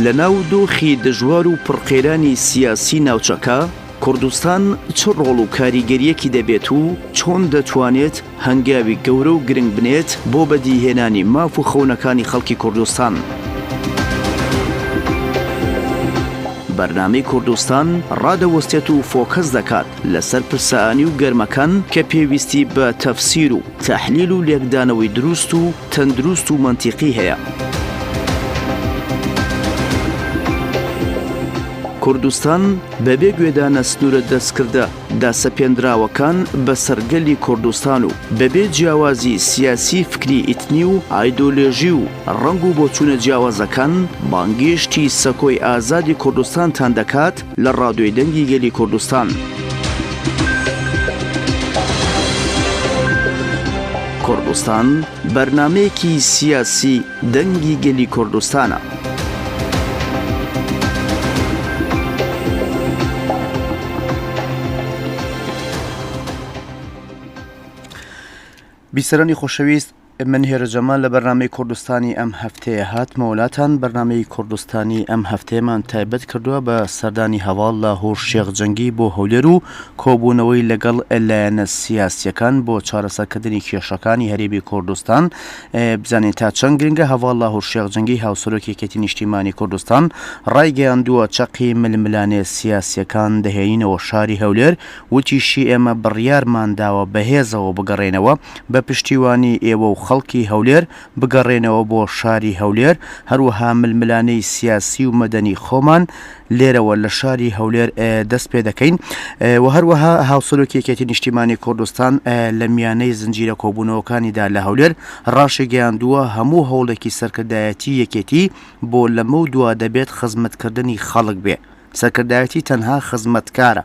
لە ناو دۆخی دژوار و پڕقەیرانی سیاسی ناوچەکە، کوردستان چ ڕۆڵ و کاریگەریەکی دەبێت و چۆن دەتوانێت هەنگاوی گەورە و گرنگ بنێت بۆ بەدیهێنانی ماف و خەونەکانی خەڵکی کوردستان. بەرنامەی کوردستان ڕادەوەستێت و فۆکەس دەکات لەسەر پرسە ئانی و گەرمەکان کە پێویستی بە تەفسیر و تەحلیل و لێکدانەوەی دروست و تەندروست و مەنتیقی هەیە. کوردستان بەبێ گوێدانە سنوورە دەستکردە داسەپێنراوەکان بە سەرگەلی کوردستان و بەبێ جیاوازی سیاسی فکری ئیتنی و ئایدۆلێژی و ڕنگ و بۆچوونە جیاوازەکان بانگێشتی سەکۆی ئازادی کوردستانتان دەکات لە ڕادیۆی دەنگی گەلی کوردستان. کوردستان بەرنمەیەکی سیاسی دەنگی گەلی کوردستانە. بیسەرانی خۆشەویست من هێرۆ جەمال لە بەرنامەی کوردستانی ئەم هەفتەیە هاتمە وڵاتان بەرنمەی کوردستانی ئەم هەفتەیەمان تایبەت کردووە بە سەردانی هەواڵ لە هۆر شێخ جەنگی بۆ هەولێر و کۆبوونەوەی لەگەڵ لایەنە سیاسیەکان بۆ چارەسەرکردنی کێشەکانی هەرێمی کوردستان بزانین تا چەند گرنگە هەواڵ لە هۆر شێخ جەنگی هاوسەرۆک یەکێتی نیشتیمانی کوردستان ڕایگەیاندووە چەقی ململانێ سیاسیەکان دەهێنینەوە شاری هەولێر وتیشیئێمە بڕیارمان داوە بەهێزەوە بگەڕێنەوە، بە پشتیوانی ئێوە و خەڵکی هەولێر بگەڕێنەوە بۆ شاری هەولێر، هەروەها ململانێی سیاسی و مەدەنی خۆمان لێرەوە لە شاری هەولێر دەست پێ دەکەین و هەروەها هاوسەرۆکی یەکێتی نیشتیمانی کوردستان لە میانەی زنجیرە کۆبوونەوەکانیدا لە هەولێر ڕاشیگەیاندووە هەموو هەوڵێکی سەرکردایەتی یەکێتی بۆ لەمەودوا دەبێت خزمەتکردنی خەڵک بێ، سەرکردایەتی تەنها خزمەتکارە.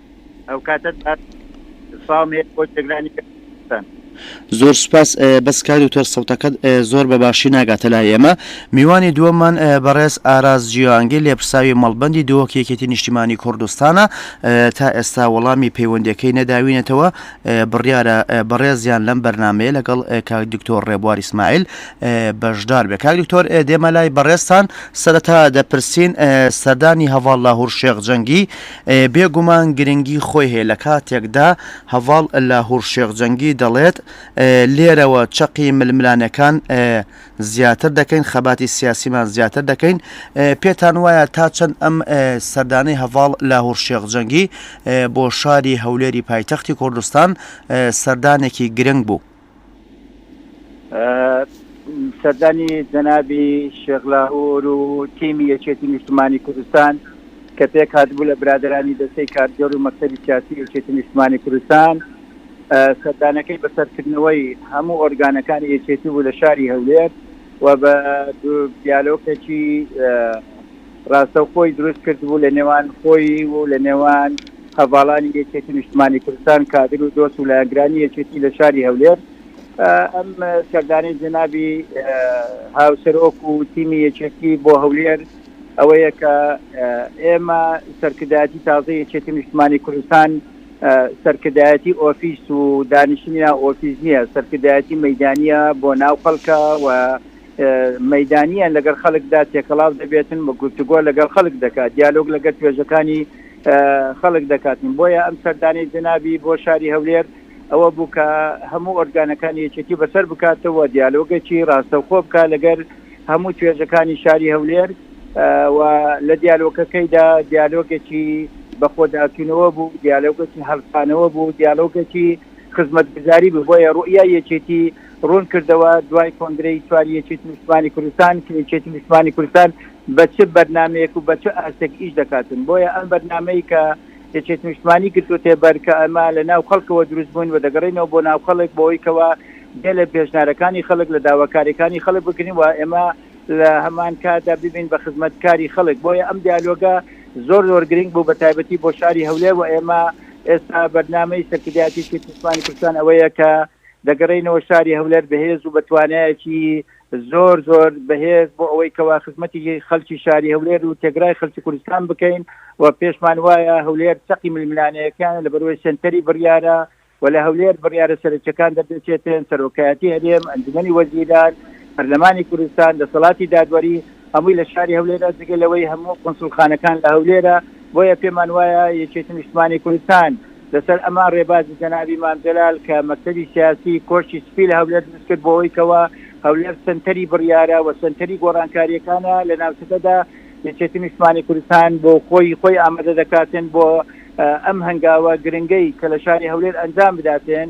ئەو کاتە سڵاوم هەیە بۆ جێگرانی کوردستان. زۆر سوپاس بەس کاک دکتۆر سەوتەکەت زۆر بە باشی ناگاتە لای ئێمە میوانی دووەممان بەڕێز ئاراز جیانگیر لێپرساوی مەڵبەندی دۆک یەکێتی نیشتیمانی کوردستانە تا ئێستا وەڵامی پەیوەندەکەی نەداوینەتەوە بڕیارە بەڕێزیان لەم بەرنمەیە لەگەڵ کاک دکتۆر ڕێبوار ئیسماعیل بەشدار بێ کاک دکتۆر دێمە لای بەڕێزتان سەرەتا دەپرسین سەردانی هەواڵ لاهور شێخ جەنگی بێ گومان گرنگی خۆی هەیە لە کاتێکدا هەڤاڵ لاهور شێخ جەنگی دەڵێت لێرەوە چەقی ململانەکان زیاتر دەکەین خەباتی سیاسیمان زیاتر دەکەین پێتان وایە تا چەند ئەم سەردانەی هەڤاڵ لاهور شێخ جەنگی بۆ شاری هەولێری پایتەختی کوردستان سەردانێکی گرنگ بوو. سەردانی جەنابی شێخ لاهور و تیمی یەکێتی نیشتمانی کوردستان کە پێک هاتبوو لە برادرانی دەستەی کارگەر و مەکتەبی سیاسی یەکێتی نیشتمانی کوردستان سەردانەکەی بەسەرکردنەوەی هەموو ئۆرگانەکانی یەکێتی بوو لە شاری هەولێر و بە دیالۆکێکی ڕاستەوخۆی دروست کردبوو لە نێوان خۆی و لە نێوان هەڤاڵانی یەکێتی نیشتمانی کوردستان، کادر و دۆست و لایەنگرانی یەکێتی لە شاری هەولێر. ئەم سەردانەی جەنابی هاوسەرۆک و تیمی یەکێتی بۆ هەولێر ئەوەیە کە ئێمە سەرکردایەتی تازە یەکێتی نیشتمانی کوردستان سەرکردایەتی ئۆفیس و دانیشتنی ناو ئۆفیس نییە، سەرکردایەتی مەیدانییە بۆ ناو خەڵکە و مەیدانییە لەگەڵ خەڵکدا تێکەڵاو دەبێتن و گفتوگۆ لەگەڵ خەڵک دەکات، دیالۆگ لەگەڵ توێژەکانی خەڵک دەکاتن، بۆیە ئەم سەردانەی جەنابی بۆ شاری هەولێر ئەوە بوو کە هەموو ئۆرگانەکانی یەکێتی بەسەر بکاتەوە و دیالۆگێکی ڕاستەوخۆ بکات لەگەڵ هەموو توێژەکانی شاری هەولێر و لە دیالۆگەکەیدا دیالۆگێکی بەخۆداچوونەوە بوو، دیالۆگێکی هەڵسانەوە بوو، دیالۆگێکی خزمەتگوزاری بوو، بۆیە ڕوئیای یەکێتی. ڕوون کردەوە، دوای کۆنگرەی چواری یەکێتی نیشتمانی کوردستان کە یەکێتی نیشتمانی کوردستان بە چ بەرنامەیەک و بە چ ئاستێک ئیش دەکاتن بۆیە ئەم بەرنامەی کە یەکێتی نیشتمانی گرتوتێ بەر کە ئەمە لە ناو خەڵکەوە دروست بووین و دەگەڕینەوە بۆ ناو خەڵک بۆی کەوا بێ لە پێشنارەکانی خەڵک لە داواکاریەکانی خەڵک بگرین و ئێمە لە هەمان کادا ببین بە خزمەت کاری خەڵک بۆیە ئەم دیالۆگە زۆر زۆر گرنگ بوو بە تایبەتی بۆ شاری هەولێر و ئێمە ئێستا بەرنامەی سەرکردایەتی یەکێتی نیشتمانی کوردستان ئەوەیە کە دەگەڕێینەوە شاری هەولەر بەهێز و بە توانایەکی زۆر زۆر بەهێز بۆ ئەوەی کەوا خزمەتی خەلکی شاری هەولێر و تێگرای خەلکی کوردستان بکەین و پێشمان وایە هەولێر چقی ململانەیەکان لە بەرەوەی سنتەری بڕیارە و لە هەولێر بڕیارە سەرچەکان دەردەچێتێن سەرۆکایەتی هەرێم ئەنجومی وەزیران پەرلەمانی کوردستان دەسەڵاتی دادوەری هەمووی لە شاری هەولێرە جگە لەوەی هەموو قونسوڵخانەکان لە هەولێرە، بۆیە پێمان وایە یەکێتی نیشتمانی کوردستان لەسەر ئەمە رێبازی جەنابی مام جەلال کە مەکتەبی سیاسی کۆشکی سپی لە هەولێر دروستکرد بۆوەی کەوا هەولێر سەنتەری بڕیارە و سەنتەری گۆڕانکاریەکانە لە ناوچەکەدا یەکێتی نیشتمانی کوردستان بۆ خۆی خۆی ئامادە دەکاتێن بۆ ئەم هەنگاوە گرنگەی کە لە شاری هەولێر ئەنجام بداتێن.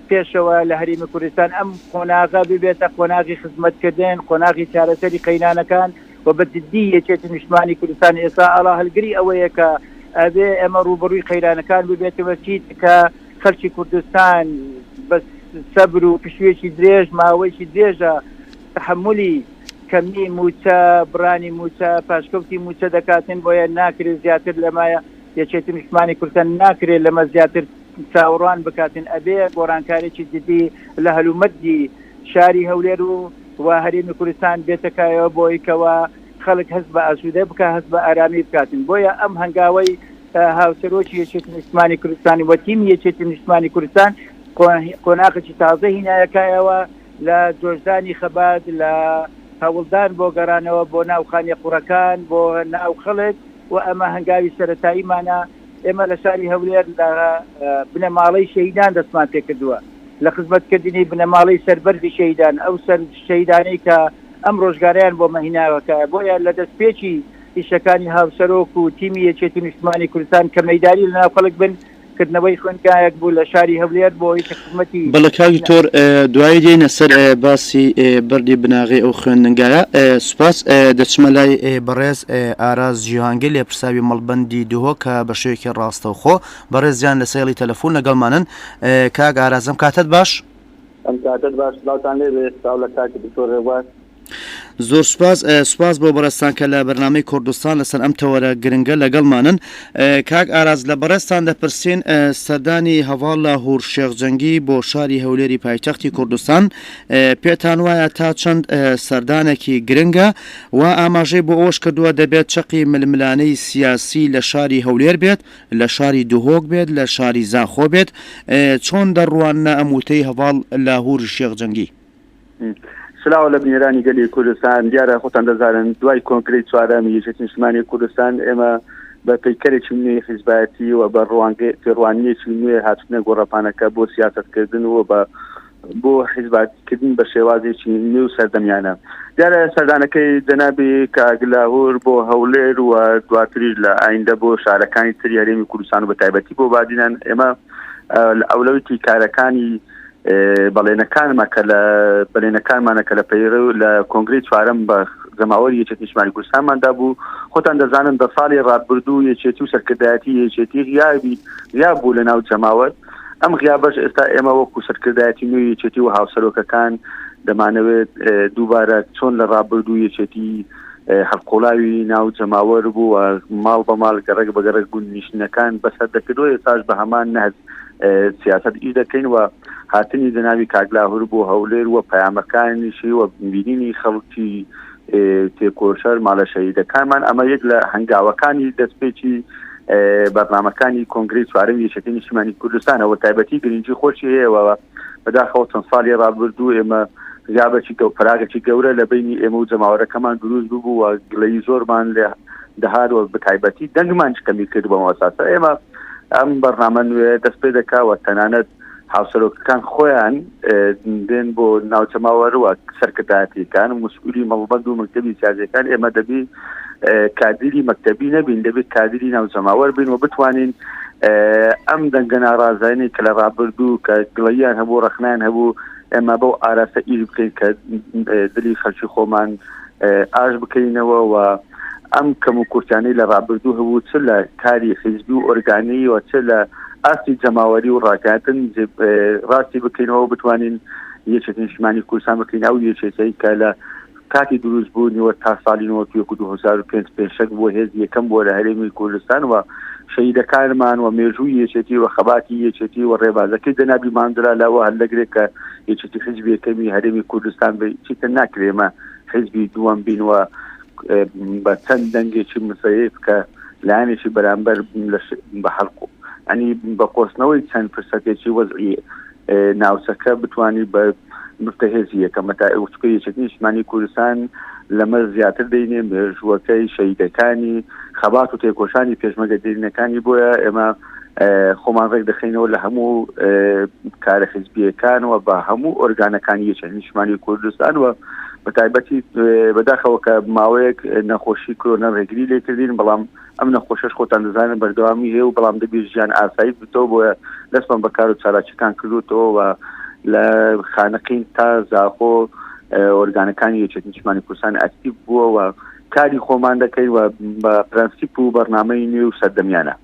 پێشەوە لە هەرێمی کوردستان ئەم قۆناغە ببێتە قۆناغی خزمەتکردن، قۆناغی چارەسەری قەیرانەکان و بە جددی یەکێتی نیشتمانی کوردستان ئێستا ئاڵا هەلگری ئەوەیە کە ئەبێ ئێمە رووبەڕووی قەیرانەکان ببێتەوە چیتکە خەلکی کوردستان بە سەبر و پشوویەکی درێژ ماوەیەکی درێژە تەحەمولی کەمی مووچە، بڕانی مووچە، پاشکەوتی مووچە دەکاتن بۆیە ناکرێ زیاتر لەمە یەکێتی نیشتمانی کوردستان ناکرێ لەمە زیاتر چاوەڕوان بکاتن ئەبێ گۆڕانکارێکی جدی لە هەلومەرجی شاری هەولێر و و هەرێمی کوردستان بێتە کایەوە بۆی کەوا خەلک هەست بە ئاسودە بکا هەست بە ئارامی بکاتن بۆیە ئەم هەنگاوەی هاوسەرۆکی یەکێتی نیشتمانی کوردستان و تیمی یەکێتی نیشتمانی کوردستان قۆناغێکی تازە هینایە کایەوە لە جۆشدانی خەبات لە هەوڵدان بۆ گەڕانەوە بۆ ناو خانێ قوڕەکان بۆ ناو خەڵک و ئەمە هەنگاوی سەرەتاییمانە. ئێمە لە شاری هەولێر لە بنەماڵەی شەهیدان دەستمان پێکردووە لە خزمەتکردنی بنەماڵەی سەربەرزی شەهیدان ئەو سەر شەهیدانەی کە ئەم ڕۆژگارەیان بۆ مەهیناوەکە بۆیە لە دەستپێکی ئیشەکانی هاوسەرۆک و تیمی یەکێتی نیشتمانی کوردستان کە مەداری لەناو خەڵک بن کردنەوەی خوێندگایەک بوو لە شاری هەولێر بۆی بەڵێ کاک دکتۆر دوایی دێنە سەر باسی بەردی بناغەی ئەو خوێندنگایە سوپاس دەچمە لای بەڕێز ئاراز جیهانگە لێ پرساوی مەڵبندی دهۆ کە بە شێوێکی ڕاستەوخۆ بەڕێزیان لە سێڵی تەلەفۆن لەگەڵمانن کاک ئارازم کاتت باش ئەم کاتت باش سلاوتان لێبێ سلاو لە کاک دکتۆر ڕێبوار زۆر سپاس سپاس بۆ بەڕێستان کە لە بەرنمەی کوردستان لەسەر ئەم تەوەرە گرنگە لەگەڵمانن کاک ئاراز لە بەڕێستان دەپرسین سەردانی هەواڵ لە هور شێخجەنگی بۆ شاری هەولێری پایتەختی کوردستان پێتان وایە تا چەند سەردانێکی گرنگە و ئاماژەی بۆ ئەوش کردووە دەبێت چەقی ململانەی سیاسی لە شاری هەولێر بێت لە شاری دهۆک بێت لە شاری زاخۆ بێت چۆن دەڕوانە ئەموتەی هەواڵ لە هور شێخجەنگی سلاو لە بنیرانی گەلی کوردستان دیارە خۆتان دەزانن دوای کۆنگرەی چوارەمی یەکێتی نیشتمانی کوردستان ئێمە بە پەیکەرێکی نوێی حیزبایەتی و بە ڕوانگە تێڕوانیەکی نوێ هاتنە گۆڕەپانەکە بۆ سیاستکردن و بە بۆ حیزباتکردن بە شێوازێکی نوێ و سەردەمیانە دیارە سەردانەکەی جەنابی کاگلاهور بۆ هەولێر و دواتریش لە ئایندە بۆ شارەکانی تری هەرێمی کوردستان و بە تایبەتی بۆ بادینان ئێمە ئەولەوتی کارەکانی بەڵێنەکانمە کە لە بەلێنەکانمانە کە لە پەیڕ و لە کۆنگری چوارم بە جەماوەری یەکێت نیشمانی کوردستانماندا بوو خۆتان دەزانن دە ساڵی ڕابردوو یەکێتی و سەرکردایەتی یەکێتی غیابی یا بوو لە ناو جەماوەر ئەم غیابەش ئێستا ئێمە وەکو سەرکردایەتی نوێ یەکێتی و هاوسەرۆکەکان دەمانەوێت دووبارە چۆن لە ڕابردوو یەکێتی هەڵقوڵاوی ناو جەماوەر بوو و ماڵ بە ماڵ گەڕک بە گەڕک گوند نیشتنەکان بەسەر دەکردەوە ئێستاش بە هەمان نەهج سیاست ئی دەکەین و هاتنی جەناوی کاکلاهور بۆ هەولێر و پەیامەکانیشی و بینینی خەڵکی تێکۆشەر ماڵە شەهیدەکانمان ئەمە یەک لە هەنگاوەکانی دەستپێکی بەرنمەکانی کۆنگری چوارم یەکێتی نیشتمانی کوردستانەوە تایبەتی گرنگی خۆشی هەیەەوە بەداخەوە چەند ساڵی ڕابردوو ئێمە غیابەتی گەڵ پراگەتی گەورە لە بینی ئێمە و جەماوەرەکەمان دروست ببوو و گلەی زۆرمان لە دەهار و بەتایبەتی دەنگمان کەمی کرد بەم ئەساسە ئێمە ئەم بەرنامە نوێ دەست پێ دەکەوە تەنانەت هاوسەرۆکەکان خۆیان دێن بۆ ناوچەماوەروە سەرکردایەتیەکان مسئولی مەڵبەند و مەکتتەبی سازەکان ئێمە دەبی کادیری مەکتتەبی نەبین دەبێت کادیری ناو جەماوەەر بین و بتوانین ئەم دەنگە ناڕازانی کە لە ڕابردوو کە گڵیان هەبوو ڕخنان هەبوو ئێمە بەو ئاراستە ئیر بکەین کە دلی خەلکی خۆمان ئاش بکەینەوە و ئەم کەم و کورتانی لە ڕابردوو هەبوو چ لە کاری حیزبی و ئۆرگانی و چ لە ئاستی جەماوەری و ڕاکاتن ڕاستی بکەینەوە بتوانین یەکێتی نیشتمانی کوردستان بکەین ئەو یەکێتەی کە لە کاتی دروست بوونیوە تا سالی نۆت وەکو دو هەزار و پێنج پێشەک بووە هێز یەکەم بووە لە هەرێمی کوردستان و شەهیدەکانمان و مێژووی یەکێتی و خەباتی یەکێتی و ڕێبازەکەی جەنابی ماندرا لەوە هەر لەگرێک کە یەکێتی حزبی یەکەمی هەرێمی کوردستان بێ چیتر ناکرێمە حزبی دووەم بین و بە چەند دەنگێکی مسەیف کە لایەنێکی بەرامبەر بە هەڵکو ئەنی بە قۆستنەوەی چەند فرسەتێکی وەزعی ناوچەکە بتانی بە نوتە هێزی یەکەمە تا ئەوچکە یەکێتی نیشتمانی کوردستان لەمە زیاتر دەینێ مێژووەکەی شەیدەکانی خەبات و تێکۆشانی پێشمەگە دێرینەکانی بۆیە ئێمە خۆمان ڕێک دەخینەوە لە هەموو کارە حزبیەکانەوە بە هەموو ئۆرگانەکانی یەکە نیشمانی کوردستان و بە تایبەتی بەداخەوە کە ماوەیەک نەخۆشی کرۆنە ڕێگری لێکردین بەڵام ئەم نەخۆشەش خۆتان دەزانن بەردەوامی هەیە و بەڵام دەبێت ژیان ئاسایی بتەوە بۆیە دەستمان بە کار و چالاکیەکان کردوتەوە و لە خانەقین تا زاخۆ ئۆرگانەکانی یەکێت نیشمانی کوردستان ئەکتیب بووە و کاری خۆمان دەکەین و بە پرەنسیپ و بەرنمەی نوێ و سەردەمیانە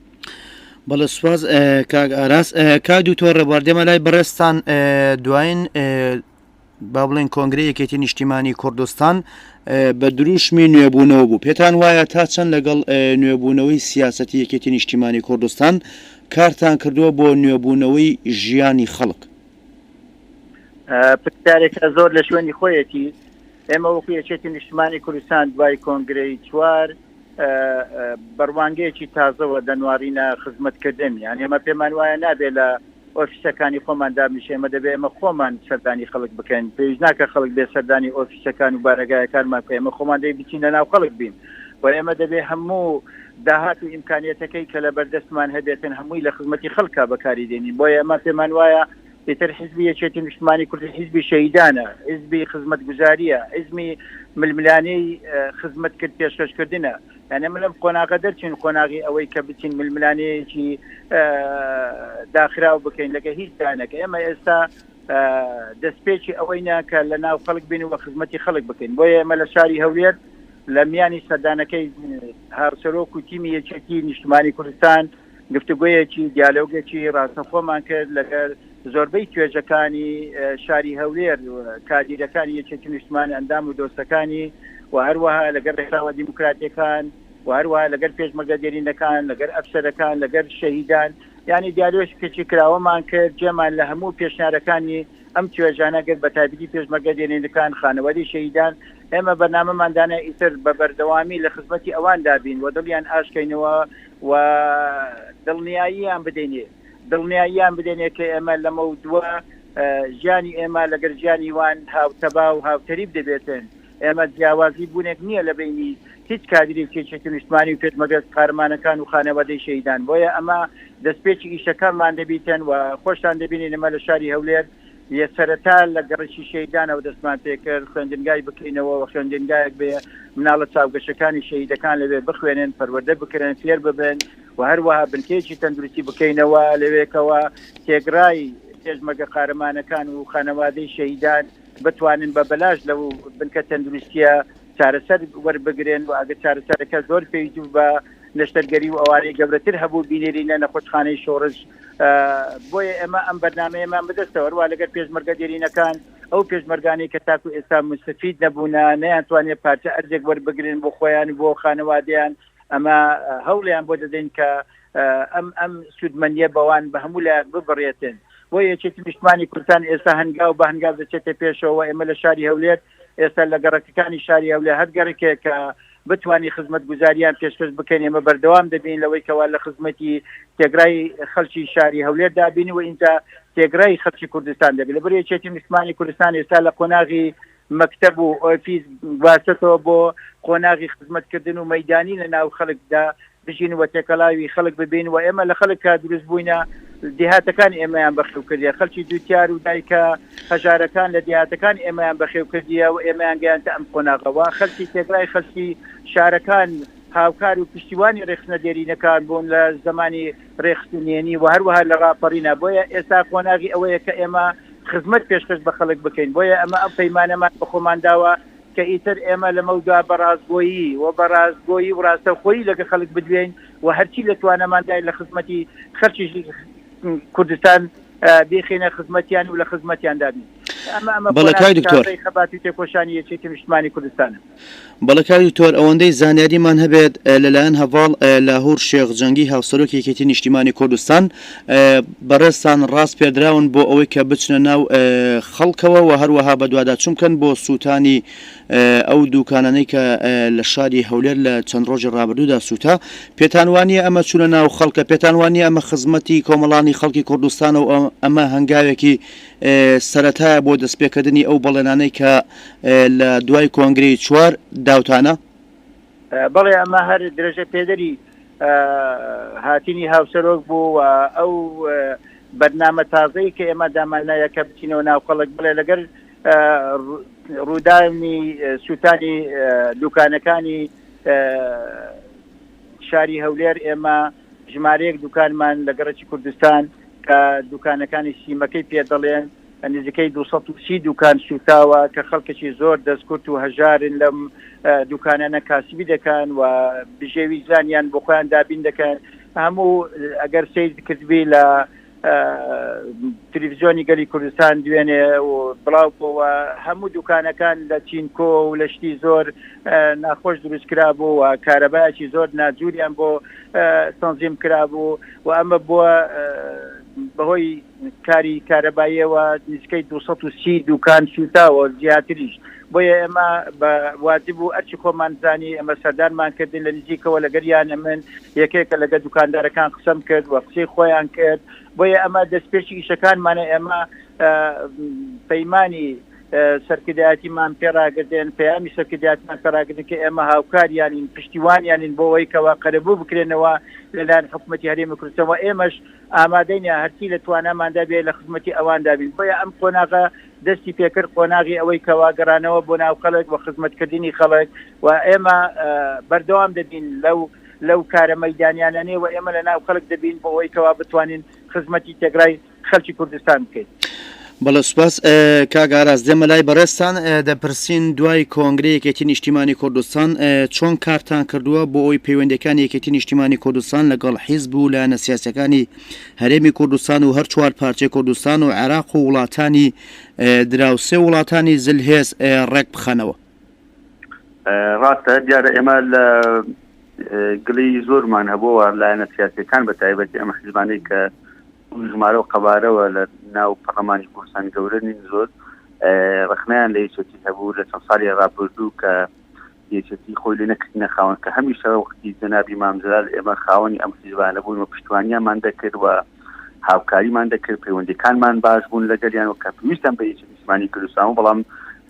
بەڵە سواز کاک ئاراس کاک دوتۆ ڕێبواردێمە لای بەڕێستان دواین با بڵێن کۆنگری یەکێتی نیشتیمانی کوردستان بە دروشمی نوێبوونەوە بوو پێتان وایە تا چەند لەگەڵ نوێبوونەوەی سیاسەتی یەکێتی نیشتیمانی کوردستان کارتان کردووە بۆ نوێبوونەوەی ژیانی خەڵک پرسیارێکە زۆر لە شوێنی خۆیەتی ئێمە وەکو یەکێتی نیشتمانی کوردستان دوای کۆنگرەی چوار بە ڕوانگەیەکی تازەوە دەنوارینە خزمەتکردن یان ئێمە پێمان وایە نابێت لە ئۆفیسەکانی خۆمان دابنیشێ ئێمە دەبێ ئێمە خۆمان سەردانی خەڵک بکەین پێویست ناکە خەڵک بێ سەردانی ئۆفیسەکان و بارەگایەکانمان کە ئێمە خۆمان دەی بچین لە ناو خەڵک بین و ئێمە دەبێ هەموو داهات و ئیمکانیەتەکەی کە لە بەردەستمان هەبێتن هەمووی لە خزمەتی خەڵکە بەکاری دێنین بۆ ئێمە پێمان وایە ئیتر حیزبی یەکێتی نیشتمانی کوردی حیزبی شەهیدانە، حیزبی خزمەتگوزارییە، حیزمی ململانێی خزمەتکرد پێشکەشکردنە. یانی ئەمە لەم قۆناغە دەرچین، قۆناغی ئەوەی کە بچین ململانێیەکی داخراو بکەین لەگە هیچ لایەنەک. ئێمە ئێستا دەستپێکی ئەوەینە کە لە ناو خەڵک بین و خزمەتی خەڵک بکەین. بۆیە ئێمە لە شاری هەولێر لە میانی سەردانەکەی هاوسەرۆک و تیمی یەکێتی نیشتمانی کوردستان، گفتوگۆیەکی، دیالۆگێکی ڕاستەوخۆمان کرد لەگەر زۆربەی توێژەکانی شاری هەولێر، کادیرەکانی یەکێتی نیشتمانی، ئەندام و دۆستەکانی و هەروەها لەگەر ڕێکخراوە دیموکراتیەکان و هەروەها لەگەر پێشمەرگە دێرینەکان، لەگەر ئەفسەرەکان، لەگەر شەهیدان، یانی دیالۆشکێکی کراوەمان کرد، جێمان لە هەموو پێشنیارەکانی. ئەم توێژانە گەر بە تایبەتی پێشمەرگە دێرینەکان، خانەوادەی شەهیدان، ئێمە بەرنامەمان دانێ ئیتر بە بەردەوامی لە خزمەتی ئەواندا بین و دڵیان ئاشکەینەوە و دڵنیاییان بدەینێ دڵنیاییان بدەینێ کە ئێمە لەمەودوا ژیانی ئێمە لەگەر ژیانی وان هاوتەبا و هاوتەریب دەبێتن. ئێمە جیاوازی بوونێک نییە لە بەینی هیچ کادیرێکی یەکێتی نیشتمانی و پێشمەرگەز قارەمانەکان و خانەوادەی شەهیدان بۆیە ئەمە دەستپێکی ئیشەکانمان دەبیتن و خۆشتان دەبینین ئەمە لە شاری هەولێر یە سەرەتا لە گەڕیکی شەهیدانەوە دەستمان پێکرد خوێندنگای بکەینەوە و خوێندنگایەک بێ مناڵە چاوگەشەکانی شەهیدەکان لەوێ بخوێنن پەروەردە بکرێن فێر ببن و هەروەها بنکەیەکی تەندروستی بکەینەوە لەوێکەوە تێگرای پێشمەگە قارەمانەکان و خانەوادەی شەهیدان بتوانن بە بەلاش لەو بنکە تەندروستییە چارەسەر وەربگرن و ئەگەر چارەسەرەکە زۆر پێویست بە نەشتەرگەری و ئەوانەی گەورەتر هەبوو بینێرینە نەخۆشخانەی شۆڕش بۆیە ئێمە ئەم بەرنامەیەمان بدەستەوە هەروە لەگەر پێشمەرگە دێرینەکان ئەو پێشمەرگانی کە تاکو ئێستا مستەفید نەبوونە نەیانتوانێت پارچە ئەرزێک وەربگرن بۆ خۆیان بۆ خانەوادەیان ئەمە هەوڵیان بۆ دەدەین کە ئەم ئەم سوودمەنیە بەوان بە هەموو لە ببڕێتن بۆ یەکێتی نیشتمانی کوردستان ئێستا هەنگاو بە هەنگاو دەچێتە پێشەوە ئێمە لە شاری هەولێر ئێستا لە گەڕەکەکانی شاری هەولێر هەر گەڕکێک کە بتانی خزمەت گوزاریان پێشکەش بکەین ئێمە بەردەوام دەبین لەوەی کەوا لە خزمەتی تێگرای خەلکی شاری هەولێر دابین و ئینجا تێگرای خەلکی کوردستان دەبێت لە بەرێکێتی نیشتمانی کوردستان ئێستا لە قۆناغی مەکتەب و ئۆفیس گواستەتەوە بۆ قۆناغی خزمەتکردن و مەیدانی لە ناو خەڵکدا بژین و تێکەڵاوی خەڵک ببین و ئێمە لە خەڵک کە دروست بووینە دێهاتەکان ئێمەیان بەخێو کردە خەلکی جوتیار و دایکە هەژارەکان لە دێهاتەکان ئێمەیان بەخێو کردیە و ئێمەیان گەیان ئەم قۆناغەوە خەلکی تێگرای خەلکی شارەکان هاوکار و پشتیوانی ڕێخستنە دێرینەکان بوون لە زمانی رێکخستنی نهێنی و هەروەها لە راپەڕینە، بۆیە ئێستا قۆناغی ئەوەیە کە ئێمە خزمەت پێشکەش بە خەڵک بکەین، بۆیە ئەمە ئەم پەیمانەمان بە خۆمان داوە کە ئیتر ئێمە لەمەودوا بە راستگۆیی و بە راستگۆیی و راستەوخۆیی لەگەڵ خەڵک بدوێین و هەرچی لە تواناماندایە لە خزمەتی خەڵکی کوردستان بیخەینە خزمەتیان و لە خزمەتیاندا بین، ئەمە ئەمە قۆناغی تازەی خەبات و تێکۆشانی یەکێتی نیشتمانی کوردستانە. بەڵێ کاک دکتۆر، ئەوەندەی زانیاریمان هەبێت لەلایەن هەڤاڵ لاهور شێخ جەنگی هاوسەرۆکی یەکێتی نیشتیمانی کوردستان بەڕێزتان ڕاست پێردراون بۆ ئەوەی کە بچنە ناو خەڵکەوە و هەروەها بەدواداچون بکەن بۆ سوتانی ئەو دوکانانەی کە لە شاری هەولێر لە چەند ڕۆژی ڕابردودا سوتا پێتان وانیە ئەمە چونە ناو خەڵکە پێتان وانیە ئەمە خزمەتی کۆمەڵانی خەڵکی کوردستانە و ئەمە هەنگاوێکی سەرەتایە بۆ دەستپێکردنی ئەو بەڵێنانەی کە لە دوای کۆنگرەی چوار داوتانە؟ بەڵێ ئەمە هەر درێژە پێدەری هاتنی هاوسەرۆک بوو و ئەو بەرنامە تازەی کە ئێمە دامانایە کە بچینەوە ناو خەڵک بڵێ لەگەر ڕوودانی سووتانی دوکانەکانی شاری هەولێر ئێمە ژمارەیەک دوکانمان لە گەڕکی کوردستان کە دوکانەکانی سیمەکەی پێ دەڵێن نزیکەی دوو سەد و سی دوکان سووتاوە کە خەڵکەکی زۆر دەستکورت و هەژارن لەم دوکانانە کاسبی دەکەن و بژێوی زانیان بۆ خۆیان دابین دەکەن هەموو ئەگەر سید کردبی لە تلویزیۆنی گەلی کوردستان دوێنێ و بڵاو بۆەوە هەموو دوکانەکان لە چینکۆ و لە شتی زۆر ناخۆش دروست کرا بوو و کارەبایەکی زۆر ناجووریان بۆ تەنزیم کرا بوو و ئەمە بووە بەهۆی کاری کارەباییەوە نزیکەی دوو سەد و سی دووکان سووتاوە و زیاتریش، بۆیە ئێمە بە واجب بوو ئەرچی خۆمان زانی ئێمە سەردانمان کردن لە نزیکەوە لەگەریان ئەمن یەکێکە لەگەر دووکاندارەکان قسەم کرد و قسەی خۆیان کرد بۆیە ئەمە دەستپێکی ئیشەکانمانە ئێمە پەیمانی سەرکردایەتیمان پێڕاگردێن پەیامی سەرکرداتمان پێڕاگرن کە ئێمە هاوکاریانین پشتیوانیانین بۆەوەی کەوا قەرەبوو بکرێنەوە لەلایەن حکوومەتتی هەرێمی کوردستەوە ئێمەش ئامادەین هەرچی لە تواناماندا بێت لە خزمەتی ئەواندا بین، بۆیە ئەم قۆناغە دەستی پێکرد، قۆناغی ئەوەی کەوا گەڕانەوە بۆ ناو خەڵک و خزمەتکردنی خەڵک و ئێمە بەردەوام دەبین لەو لەو کارە مەیدانیانەێ و ئێمە لە ناو خەڵک دەبین بۆ ئەوەی کەوا بتوانین خزمەتی تێکرای خەلکی کوردستان بکەین. بەڵێ سوپاس کاک ئاراس دێمە لای بەڕێزتان دەپرسین دوای کۆنگری یەکێتی نیشتیمانی کوردستان چۆن کارتان کردووە بۆ ئەوی پەیوەندەکان یەکێتی نیشتیمانی کوردستان لەگەڵ حیزب و لایەنە سیاسەکانی هەرێمی کوردستان و هەر چوار پارچەی کوردستان و عێراق و وڵاتانی دراوسێ وڵاتانی زلهێز ڕێک بخەنەوە ڕاستە دیارە ئێمە لە گلی زۆرمان هەبووە لایەنە سیاسەکان بە تایبەتی ئەمە حزبانەی کە ژمارە و قەبارەوە لە ناو پەڕلەمانی کوردستان گەورە نین زۆر ڕخنەیان لە یەکێتی هەبوو لە چەند ساڵی ڕابردوو کە یەکێتی خۆی لێ نەکردنە خاوەن کە هەمیشە وەختی جەنابی مامجلال ئێمە خاوەنی ئەم حیزبانە بوون و پشتوانیانمان دەکرد و هاوکاریمان دەکرد پەیوەندەکانمان باش بوون لەگەریان و کە پێویستم بە یەکێتی نیشتمانی کوردستان و بەڵام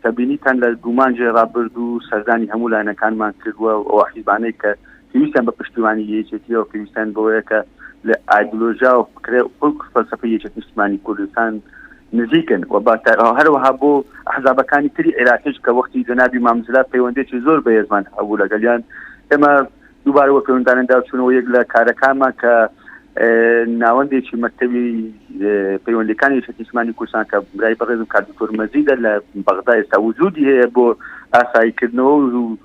سەبینیتان لە دوومانجێ ڕابرد و سەردانی هەموو لایەنەکانمان کردووە و ئەو حیزبانەی کە پێویستیان بە پشتیوانی یەکێتییەوە پێویستیان بەوەیە کە لە ئایدلۆژیا و فکرە و فەلسەفەی یەکێتی نیشتمانی کوردستان نزیکن و با هەروەها بۆ ئەحزابەکانی تری عێراقیش کە وەختی جەنابی مام جلال پەیوەندێکی زۆر بەهێزمان هەبوو لەگەلیان ئێمە دووبارە وە پەیوەندانە داچوونەوە یەک لە کارەکانمان کە ناوەندێکی مەکتەوی پەیوەندەکانی شتیسمانی کوردستان کە برای بەڕێزم کاردکتۆر مەزیدە لە بەغدا ئێستا وجودی هەیە بۆ ئاساییکردنەوە و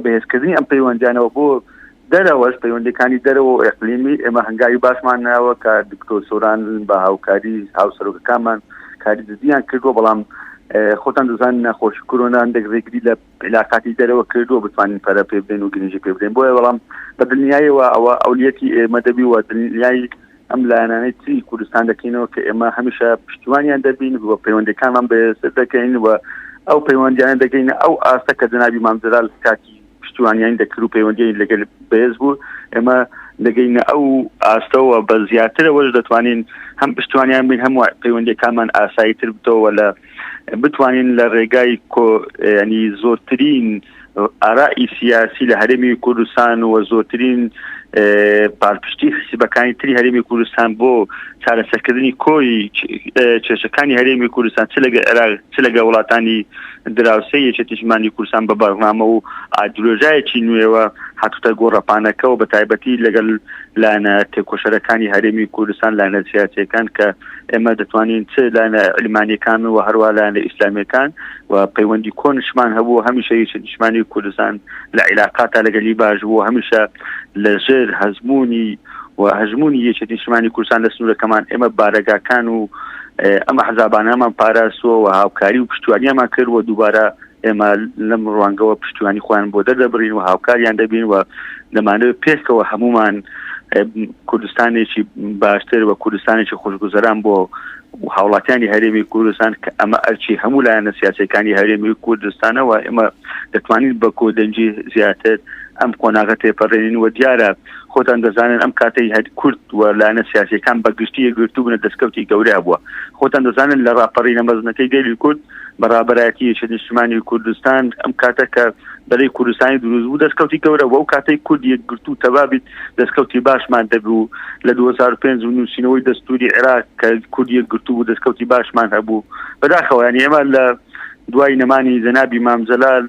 بەهێزکردنی ئەم پەیوەندیانەوە بۆ دەرەوەش پەیوەندەکانی دەرەوە و ئەقلیمی ئێمە هەنگاوی باشمان ناوە کە دکتۆر سۆران بە هاوکاری هاوسەرۆکەکانمان کاری جدیان کردووە بەڵام خۆتان دەزان نەخۆش کۆرۆنان دەگرێگری لە علااقاتی دەرەوە کردووە بتوانین پەرە پێ بدەین و گرنجی پێ بدەین بۆیە بەڵام بە دنیایەوە ئەوە ئەولیەتی ئێمە دەبی و دنیای ئەم لایەنانەی تری کوردستان دەکەینەوە کە ئێمە هەمیشە پشتیوانیان دەبین و پەیوەندەکانمان بەێسر دەکەین و ئەو پەیوەندیان دەگەینە ئەو ئاستە کە جنابی مامجلال کاتی پشتیوانیان دەکرد و پەیوەندی لەگەل بەێز بوو ئێمە دەگەینە ئەو ئاستەوە بە زیاترەوەش دەتوانین هەم پشتوانیان بین هەموو پەیوەندەکانمان ئاسایی تر بتەوە لە بتوانین لە ڕێگای ینی زۆرترین ئارائی سیاسی لە هەرێمی کوردستان و زۆرترین پالپشتی حسیبەکانی تری هەرێمی کوردستان بۆ چارەسەکردنی کۆی کێشەکانی هەرێمی کوردستان چ لەگە عێراق چ لەگە وڵاتانی دراوسێ یەکێتیشمانی کوردستان بە بەرنامە و ئادرۆژایەکی نوێوە هاتوتە گۆڕەپانەکەەوە بە تایبەتی لەگەل لایەنە تێکۆشەرەکانی هەرێمی کوردستان لایەنە سیاسەکان کە ئێمە دەتوانین چ لایەنە علمانیەکان و هەروە لایەنە ئیسلامیەکان و پەیوەندی کۆنشمان هەبوو هەمیشە یەکی نیشمانی کوردستان لە عیلاقاتە لەگەلی باش بوو هەمیشە لە ژێر هەزمونی و هەژمونی یەکی نیشمانی کوردستان لە سنوورەکەمان ئێمە بارەگاکان و ئەمە حزابانەمان پاراستوە و هاوکاری و پشتوانیامان کرد و دووبارە ئێمە لەم ڕوانگەوە پشتیوانی خۆیان بۆ دەردەبرین و هاوکاریان دەبین و دەمانەوە پێکەوە هەمومان کوردستانێکی باشتر و کوردستانێکی خوشگوزەران بۆ هاوڵاتیانی هەرێمی کوردستان کە ئەمە ئەرچی هەموو لایەنە سیاسەکانی هەرێمی کوردستانەوە ئێمە دەتوانین بە کۆدەنجی زیاتر ئەم قۆناغە تێپەڕێنین و دیارە خۆتان دەزانن ئەم کاتەی هەر کورد و لایەنە سیاسەکان بە گشتی گرتوبنە دەستکەوتی گەورە بووە خۆتان دەزانن لە ڕاپەڕینە مەزنەکەی گەلی کورد بە ڕابەرایەتی یەکە نیشتمانی کوردستان ئەم کاتە کە بەرەی کوردستانی دروست بوو دەستکەوتی گەورە وەو کاتەی کورد یەکگرتو تەبابیت دەستکەوتی باشمان دەبوو لە 2005 و نووسینەوەی دەستوری عێراق کە کورد یەکگرتو بوو دەستکەوتی باشمان هەبوو بەداخەوەیان ئێمە لە دوای نەمانی جەنابی مامجلال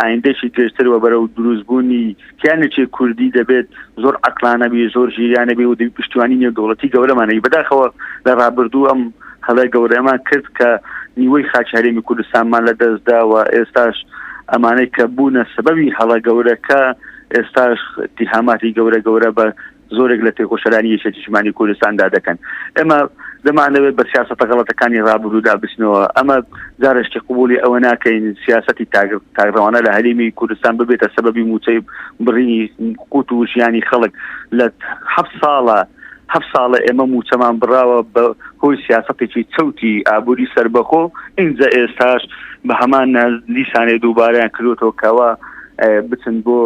ئایندەیەکی درێژتر و بەرەو دروستبوونی کیانێکی کوردی دەبێت زۆر عقلانەبی زۆر ژیرانەبی و پشتیوانی نێودوڵەتی گەورەمانەی بەداخەوە لە ڕابردوو ئەم هەڵای گەورەمان کرد کە نیوەی خاچ هەرێمی کوردستانمان لە دەستداوە ئێستاش ئەمانەی کە بوونە سەبەوی هەڵە گەورەکە ئێستاش تیهاماتی گەورە گەورە بە زۆرێک لە تێکۆشەرانی یەکێتی نیشتمانی کوردستاندا دەکەن ئێمە دەمانەوێت بە سیاستە غەڵەتەکانی ڕابروودا بچنەوە ئەمە جارشتی قوبولی ئەوە ناکەین سیاستی تاگڕەوانە لە هەرێمی کوردستان ببێتە سەبەبی موچەی بڕینی قوت و ژیانی خەڵک لە حە ساڵە هەف ساڵە ئێمە موچەمان بڕاوە بە هۆی سیاستێکی چەوتی ئابووری سربەخۆ ئینجا ئێستاش بە هەمان لیسانێ دووبارەیان کردوتەوە کەەوە بچن بۆ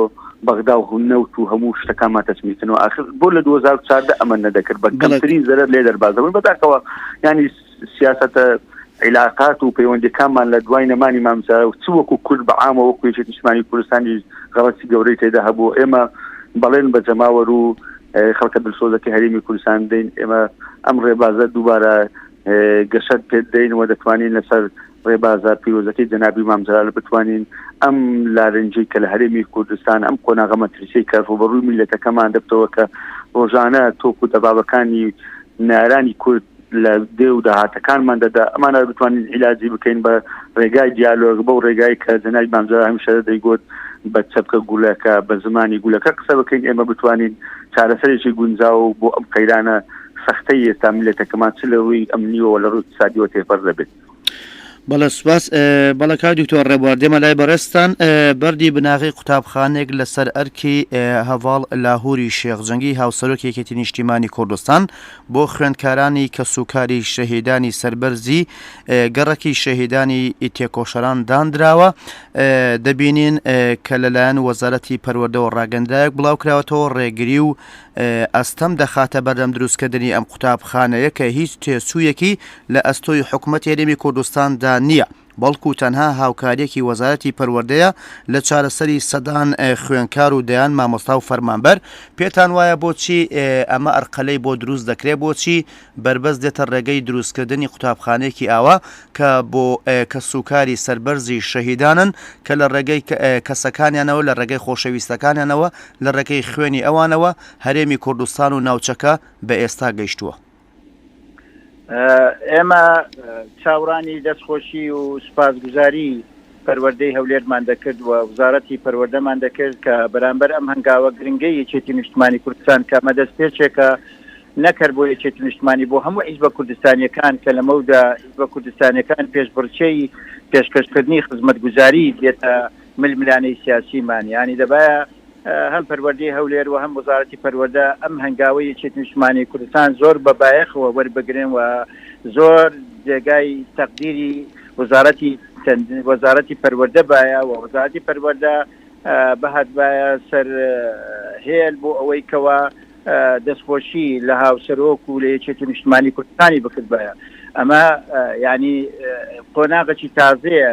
بەغدا و نەوت و هەموو شتەکانمان تەسمیکردنەوە ئاخر بۆ لە 2014 ئەمە نەدەکرد بە کەمترین زەرەر لێ دەربازەبن بەداکەوە ینی سیاستە عیلاقات و پەیوەندەکانمان لە دوای نەمانی مامزا و چ وەکو کورد بە عامەوە کوێژی نیشتمانی کوردستانی غەڵەتی گەورەی تێدا هەبوو ئێمە بەڵێن بە جەماوەر و خەڵکە دلسۆزەکە هەرێمی کوردستان دەین ئێمە ئەم ڕێبازە دووبارە گەشت پێ دەین و دەتوانین لەسەر ڕێبازە پیرۆزەکەی جەنابی مام جەلال بتوانین ئەم لارنجەی کە لە هەرێمی کوردستان ئەم قۆناغە مەترسی کە ڕوبەڕووی میلەتەکەمان دەبتەوە کە ڕۆژانە تۆک و دەبابەکانی نارانی کورد لە دێ و داهاتەکانمان دەدا ئەمانە بتوانین عیلاجی بکەین بە ڕێگای دیالۆگ بەو ڕێگای کە جەنای بامجار هەمیشە دەیگوت بە چەپکە گولەکە بە زمانی گولەکە قسە بکەین ئێمە بتوانین چارەسەرێکی گونجاو بۆ ئەم قەیرانە سەختەی ئێستا ملەتەکەمان چ لە ڕووی ئەمنیەوە لە ڕووی سادیەوە تێپەر دەبێت بەڵێ سوپاس بەڵە کاک دکتۆر ڕێبوار دێمە لای بەڕێستان بەردی بناغی قوتابخانێک لەسەر ئەرکی هەواڵ لاهوری شێخ جەنگی هاوسەرۆک یەکێتی نیشتیمانی کوردستان بۆ خوێندکارانی کە سوکاری شەهیدانی سربەرزی گەڕەکی شەهیدانی تێکۆشەران دانراوە دەبینین کە لەلایەن وەزارەتی پەروەردەوە ڕاگەندراەک بڵاوکراوەتەوە ڕێگری و ئەستەم دەخاتە بەردەم دروستکردنی ئەم قوتابخانەیە کە هیچ تێچوویەکی لە ئەستۆی حکومەت هەرێمی کوردستاندا نییە، بەڵکو تەنها هاوکاریەکی وەزارەتی پەروەردەیە لە چارەسەری سەدان خوێنکار و دەیان مامۆستا و فەرمانبەر، پێتان وایە بۆچی ئەمە ئەرقەلەی بۆ دروست دەکرێت، بۆچی بەربەست دێتە ڕێگەی دروستکردنی قوتابخانەیەکی ئاوا کە بۆ کەسوکاری سەربەرزی شەهیدانن کە لە ڕێگەی کەسەکانیانەوە، لە ڕێگەی خۆشەویستەکانیانەوە، لە ڕێگەی خوێنی ئەوانەوە هەرێمی کوردستان و ناوچەکە بە ئێستا گەیشتووە. ئێمە چاوڕانی دەستخۆشی و سوپاسگوزاری پەروەردەی هەولێرمان دەکرد و وزارەتی پەروەردەمان دەکرد کە بەرامبەر ئەم هەنگاوە گرنگی یەکێتی نیشتمانی کوردستان کە مەدەست پێچێکە نەکرد بۆ یەکێتی نیشتمانی بۆ هەموو حیزبە کوردستانیەکان کە لەمەودا حیزبە کوردستانەکان پێشبڕچەی پێشکەشکردنی خزمەت گوزاری دێتە ململانێی سیاسی مان یانی دەبایە هەم پەروەردەی هەولێر و هەم وەزارەتی پەروەردە ئەم هەنگاوەی یەکێتی نیشتمانی کوردستان زۆر بە بایەخەوە وەربگرن و زۆر جێگای تەقدیری وەزارەتی وەزارەتی پەروەردە بایە و وەزارەتی پەروەردە بەهات بایە سەر هێل بۆ ئەوەی کەوا دەستخۆشی لە هاوسەرۆک و لە یەکێتی نیشتمانی کوردستانی بکردبایە ئەمە ینی قۆناغەکی تازەیە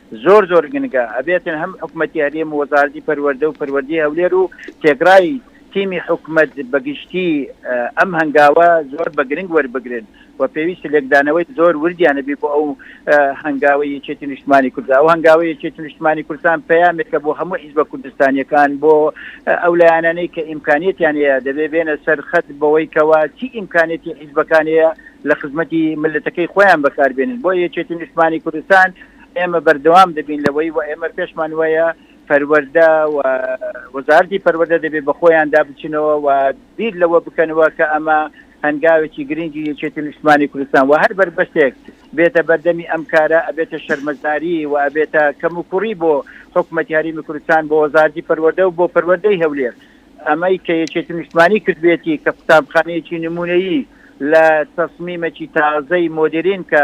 زۆر زۆر گنگە ئەبێتن هەم حکومەتی هەرێم و وەزارەتی پەروەردە و پەروەردەی هەولێر و تێکڕای تیمی حکومەت بە گشتی ئەم هەنگاوە زۆر بە گرنگ وەربگرن و پێویست لێکدانەوەی زۆر وردیان هەبی بۆ ئەو هەنگاوەی یەکێتی نیشتمانی کوردستان ئەو هەنگاوەی یەکێتی نیشتمانی کوردستان پەیامێکە بۆ هەموو حیزبە کوردستانیەکان بۆ ئەو لایەنانەی کە ئیمکانیەتیان هەیە دەبێ بێنە سەر خەت بەوەی کەوا چی ئیمکانیەتی حیزبەکان هەیە لە خزمەتی ملەتەکەی خۆیان بەکاربێنن بۆ یەکێتی نیشتمانی کوردستان ئێمە بەردەوام دەبین لەوەی و ئێمە پێشمان وایە پەروەردە و وەزارەتی پەروەردە دەبێت بە خۆیاندا بچنەوە و بیر لەوە بکەنەوە کە ئەمە هەنگاوێکی گرنگی یەکێتی نیشتمانی کوردستان و هەر بەربەستێک بێتە بەردەمی ئەم کارە ئەبێتە شەرمەزاری و ئەبێتە کەم و کوڕی بۆ حکوومەتی هەرمی کوردستان بۆ وەزارەتی پەروەردە و بۆ پەروەردەی هەولێر ئەمەی کە یەکێتی نیشتمانی کردبێتی کە قوتابخانەیەکی نمونەیی لە تەسمیمەکی تازەی مۆدرین کە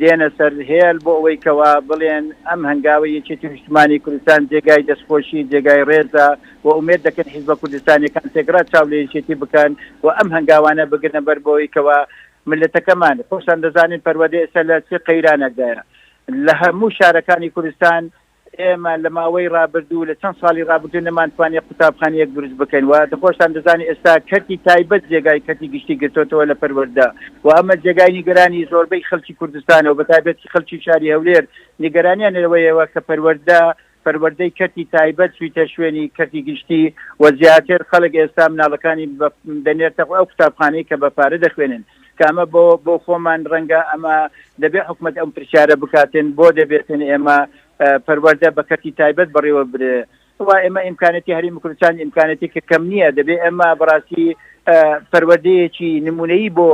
دێنە سەر هێل بۆ ئەوەی کەوا بڵێن ئەم هەنگاوەی یەکێتی نیشتمانی کوردستان جێگای دەستخۆشی جێگای ڕێزە و ئومێد دەکەین حیزبە کوردستانیەکان تێکڕا چاو لە یەکێتی بکەن و ئەم هەنگاوانە بگرنە بەر بۆ ئەوەی کەوا مللەتەکەمان خۆشتان دەزانن پەروەردە ئێستا لە چ قەیرانێکدایە لە هەموو شارەکانی کوردستان ئێمە لە ماوەی ڕابردوو لە چەند ساڵی ڕابردوو نەمانتوانیە قوتابخانەیەک دروست بکەین و خۆشتان دەزانن ئێستا کەرتی تایبەت جێگای کەرتی گشتی گرتۆتەوە لە پەروەردە و ئەمە جێگای نیگەرانی زۆربەی خەلکی کوردستانە و بەتایبەتی خەلکی شاری هەولێر نیگەرانیان لەوەیەوە کە پەروەردە پەروەردەی کەرتی تایبەت چویتە شوێنی کەرتی گشتی و زیاتر خەلک ئێستا مناڵەکانی دەنێرتە ئەو قوتابخانەی کە بە پارە دەخوێنن کە ئەمە بۆ بۆ خۆمان ڕەنگە ئەمە دەبێت حکومت ئەم پرسیارە بکاتن بۆ دەبێتن ئێمە پەروەەردە بە کەسی تایبەت بەڕێوە برێ وا ئێمە ئیمکانەتی هەری مکرچان ئیمکانەتی کە کەم نییە دەبێ ئێمە بەڕاستی پەروەردەیەکی نمونەی بۆ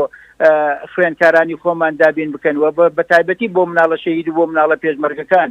خوێنکارانی خۆمان دابین بکەن و بە تایبەتی بۆ مناڵە شەید بۆ مناڵە پێشمەرگەکان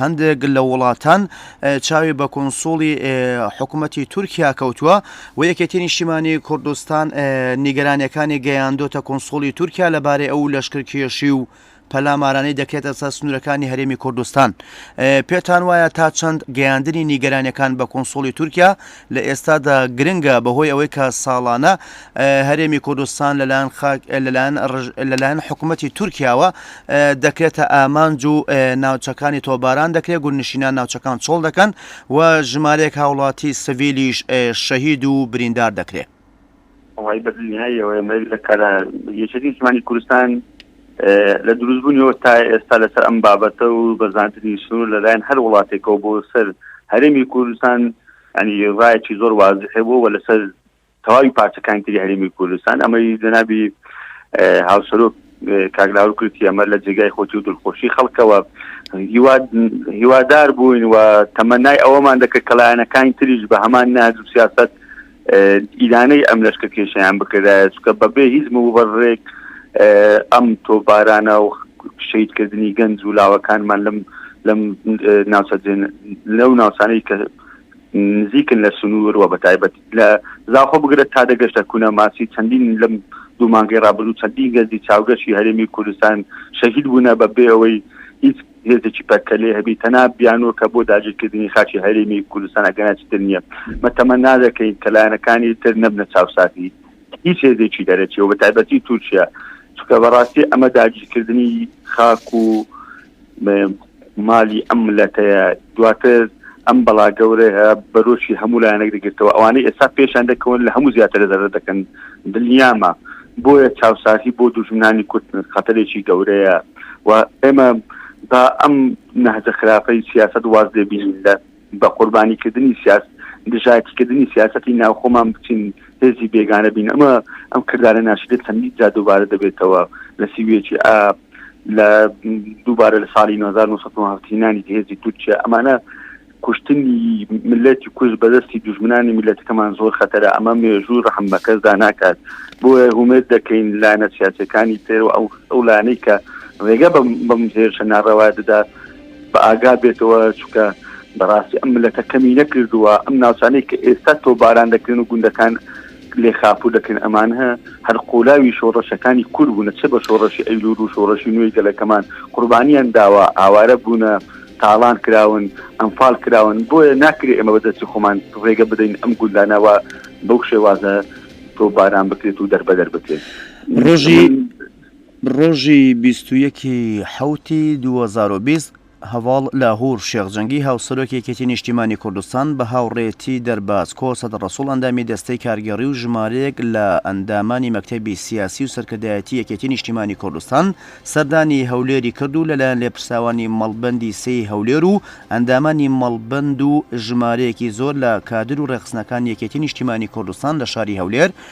هەندێک لە وڵاتان چاوی بە کونسوڵی حکوومەتی تورکیا کەوتووە و یەکێتی نیشتیمانی کوردستان نیگەرانەکانی گەیاندۆتە کونسوڵی تورکیا لەبارەی ئەو لەشکرکێشی و پەلامارانەی دەکرێتە سەر سنوورەکانی هەرێمی کوردستان پێتان وایە تا چەند گەیاندنی نیگەرانەکان بە کونسوڵی تورکیا لە ئێستادا گرنگە بەهۆی ئەوەی کە ساڵانە هەرێمی کوردستان لەلایەن خاک لەلایەن ڕژ- لەلایەن حکوومەتی تورکیاوە اه، دەکرێتە ئامانج و اه، ناوچەکانی تۆباران دەکرێت گوندنشینان ناوچەکان چۆڵ دەکەن و ژمارەیەک هاوڵاتی سڤیلیش اه، شەهید و بریندار دەکرێت. وەڵایی بە دلنیاییەوە ئێمە یەک لە کارە یەکێتی نیشتمانی کوردستان لە دروستبوونیەوە تا ئێستا لەسەر ئەم بابەتە و بە زانتری سنوور لەلایەن هەر وڵاتێکەوە بۆ سەر هەرێمی کوردستان ینی ڕایەکی زۆر وازحێ بوو و لەسەر تەواوی پارچەکانی تری هەرێمی کوردستان ئەمەی جەنابی هاوسەرۆک کاگلاور کورتی ئەمە لە جێگای خۆتی و دڵخۆشی خەڵکەوە هیوادار بووین و تەمەنای ئەوەمان دەکرد کەلایەنەکانی تریش بە هەمان ناج و سیاست ئیلانەی ئەم لەشکە کێشیان بکردایە چکە بەبێ هیچ مبڕێک ئەم تۆ بارانە و شیدکردنی گەنج و لاوەکانمان لەم لەم ناوچە لەو ناوچانەی کە نزیکن لە سنوور و بە تایبەت لە زاخۆ بگرە تا دەگەشتە کونە ماسی چەندین لەم دوو مانگی رابرو چەندین گەنجی چاوگەشی هەرێمی کوردستان شەهید بوونە بە بێ ئەوەی هیچ هێزێکی پەرکەلێ هەبی تەنا بیانوە کە بۆ داگیرکردنی خاچی هەرێمی کوردستان ئەگەناچتر نییە مەتەمە نادەکەین کە لایەنەکانی تر نەبنە چاوساتی هیچ هێزێکی دەرەچی و بە تایبەتی تورکیا چکە بەڕاستی ئەمە داگیرکردنی خاک و مالی ئەم ملەتەیە دواتر ئەم بەڵا گەورەیە بەرۆکی هەموو لایەنێک دەگرتەوە ئەوانەی ئێستا پێشان دەکەون لە هەموو زیاتر دەرە دەکەن دڵنیامە بۆیە چاوسازی بۆ دوژمنانی کورد خەتەرێکی گەورەیە و ئێمە با ئەم نەهجە خراپەی سیاست واز دەبین لە بە قوربانیکردنی سیاست دژایتیکردنی سیاستی ناوخۆمان بچین هێزی بێگانە بین ئەمە ئەم کردارە ناشیدە چەندی جا دووبارە دەبێتەوە لە سیویەکی ئاب لە دووبارە لە ساڵی 1970 هینانی هێزی تورکیا ئەمانە کوشتنی ملەتی کوش بەدەستی دژمنانی میلەتەکەمان زۆر خەتەرە ئەمە مێژوو ڕحم بەکەسدا ناکات بۆ هومێت دەکەین لایەنە سیاسەکانی تر و ئەو ئەو لانەی کە ڕێگە بەم هێرشە ناڕەوا دەدا بە ئاگا بێتەوە چکە بەڕاستی ئەم ملەتە کەمی نەکردووە ئەم ناوچانەی کە ئێستا تۆ باران دەکرێن و گوندەکان لێ خاپوور دەکەین، ئەمانه هەر قوولاوی شۆڕشەکانی کورد بوونە، چ بە شۆڕشی ئەیلوول و شۆڕشی نوێی گەلەکەمان قوربانیان داوە، ئاوارە بوونە، تاڵان کراون، ئەنفال کراون، بۆیە ناکرێ ئێمە بە دەستی خۆمان ڕێگە بدەین ئەم گوندانە وا بەو شێوازە تۆپباران بکرێت و دەربەدەر بکرێت. ڕۆژی ڕۆژی بیست و یەک ی حەوت ی دوو هەزار و بیست هەڤاڵ لاهور شێخ جەنگی هاوسەرۆکی یەکێتی نیشتیمانی کوردستان بە هاوڕێتی دەرباز کۆ سەد ڕەسوڵ ئەندامی دەستەی کارگێڕی و ژمارەیەک لە ئەندامانی مەکتەبی سیاسی و سەرکردایەتی یەکێتی نیشتیمانی کوردستان سەردانی هەولێری کرد و لەلایەن لێپرسراوانی مەڵبەندی سێ ی هەولێر و ئەندامانی مەڵبەند و ژمارەیەکی زۆر لە کادر و ڕێخستنەکانی یەکێتی نیشتیمانی کوردستان لە شاری هەولێر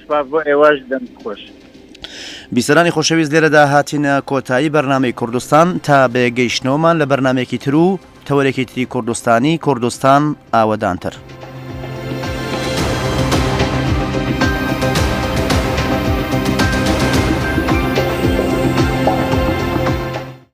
سپاس بۆ ئێوەش دەم خۆش. بیسەرانی خۆشەویست لێرەدا هاتینە کۆتایی بەرنمەی کوردستان تا بێگەیشتنەوەمان لە بەرنمێکی تر و تەوەرێکی تری کوردستانی کوردستان ئاوەدانتر.